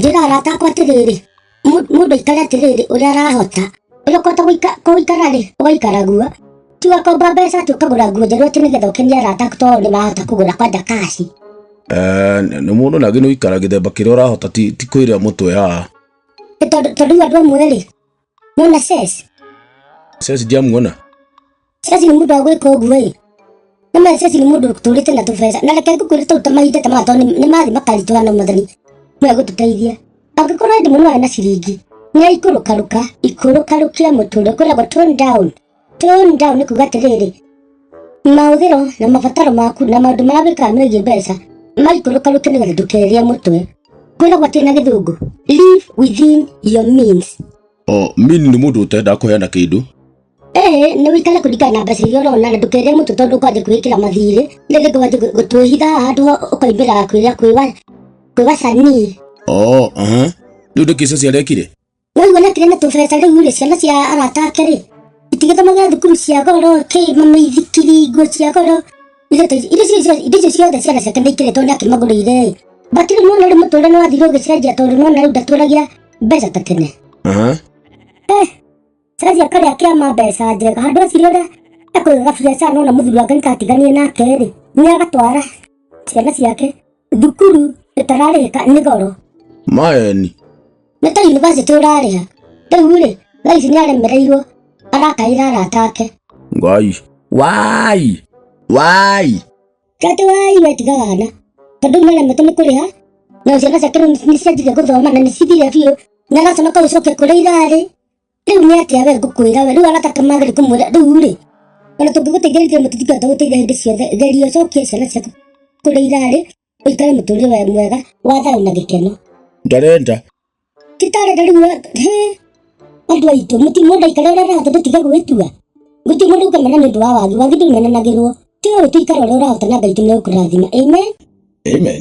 njĩra arata akwa atĩrĩrĩ mũndũ aikare atĩrĩrĩ ũrĩa arahota ũrĩa ũkũhota gũikara rĩ ũgaikara guo ti ũgakomba mbeca atĩ ũkagũra nguo njerũ atĩ nĩgetha ũkenie arata aku tondũ nĩ marahota kũgũra kwanja kaci eh, nĩ mũndũ nagĩ nĩ ũikara gĩthemba kĩrĩa ũrahota ti kwĩrĩa mũtwe aa tondũ andũ amwe rĩ Nona ses. Sasa sijamuona. Sasa ni muda wa gwĩka ũguo ĩ. Nĩ ma sasa ni mũndũ ũtũrĩte na tũbeca. Na reke ngũkwĩre tũu tũmahinda ta matho nĩ mathi makaritũha na mũthoni. Mwe gũtũteithia. Angĩkorwo hĩndĩ mũno arĩ na ciringi. Nĩ aikũrũkarũka, ikũrũkarũkia mũtũrĩre kwĩragwo tone down. Tone down nĩ kuga atĩrĩrĩ, mahũthĩro na mabataro maku na maũndũ marĩa wĩkaga megiĩ mbeca maikũrũka rũke nĩgetha ndũkerie mũtwe. Kwĩragwo atĩ na gĩthũngũ, live within your means. O mini nĩ mũndũ ũtendaga kũheana kĩndũ. Ee, nĩ wĩikare kũringana na mbeca iria ũrona na ndũkerie mũtwe tondũ ũkwambia kwĩĩkĩra mathirĩ rĩngĩ ndũkanjie gwĩ- gũtwĩhitha handũ ho ũkoimbĩra kwĩra kwĩwa kwĩwa canii. O, aha. Rĩu nĩkĩ Ceci arekire? wai wala kirena tũbeca rĩu rĩ ciana cia arata ake rĩ itigĩthomagĩra thukuru cia goro kĩ mamaithikiri nguo cia goro indo ta- indo icio cio- indo icio ciothe ciana ciake nĩ ikĩrĩtwo nĩ akĩmagũrĩire ĩ bakĩrĩ nĩ wona rĩ mũtũrĩre nĩ wathire ũgĩcenjia tondũ nĩ wona rĩu ndatũragia mbeca ta tene Sasa akarä akä ama mbeca njega handå aciri å rä a ekå gabiacara nona må thuri wake nä katiganie nake rä nä agatwara ciana ciake Thukuru ĩtararĩhĩka nĩ goro. Maeni. Nĩ ta yunivasĩtĩ ũrarĩha. Rĩu-rĩ, thaa ici nĩaremereirwo arakaĩra arata ake. Ngai. Waai! Waai! Kati waai we tiga wana. Tondũ rĩu nĩaremetwo nĩ kũrĩha na ciana ciake rĩu nĩcianjirie gũthoma na nĩcithire biũ na araconoka gũcokia kũrĩa irarĩ. Rĩu nĩ atĩa we ngũkwĩra we rĩu arataka magĩrĩ kũmwĩra rĩu rĩ ona tũngĩgũteithĩrĩria mũtithika tũgũteithia hĩndĩ ciothe geria ũcokie ciana ciaku kũrĩa irarĩ ũikare mũtũrĩre we mwega wa thayũ na gĩkeno ndarenda titarenda rĩu we- he andũ aitũ mũti mũndũ aikare ũrĩa arahota tũtige gwĩtua gũtirĩ mũndũ ũkamena nĩ ũndũ wa wagi wagi ndũmenanagĩrwo tiwe wĩ tũikare ũrĩa ũrahota na ngai tũmegũkũrathima amen amen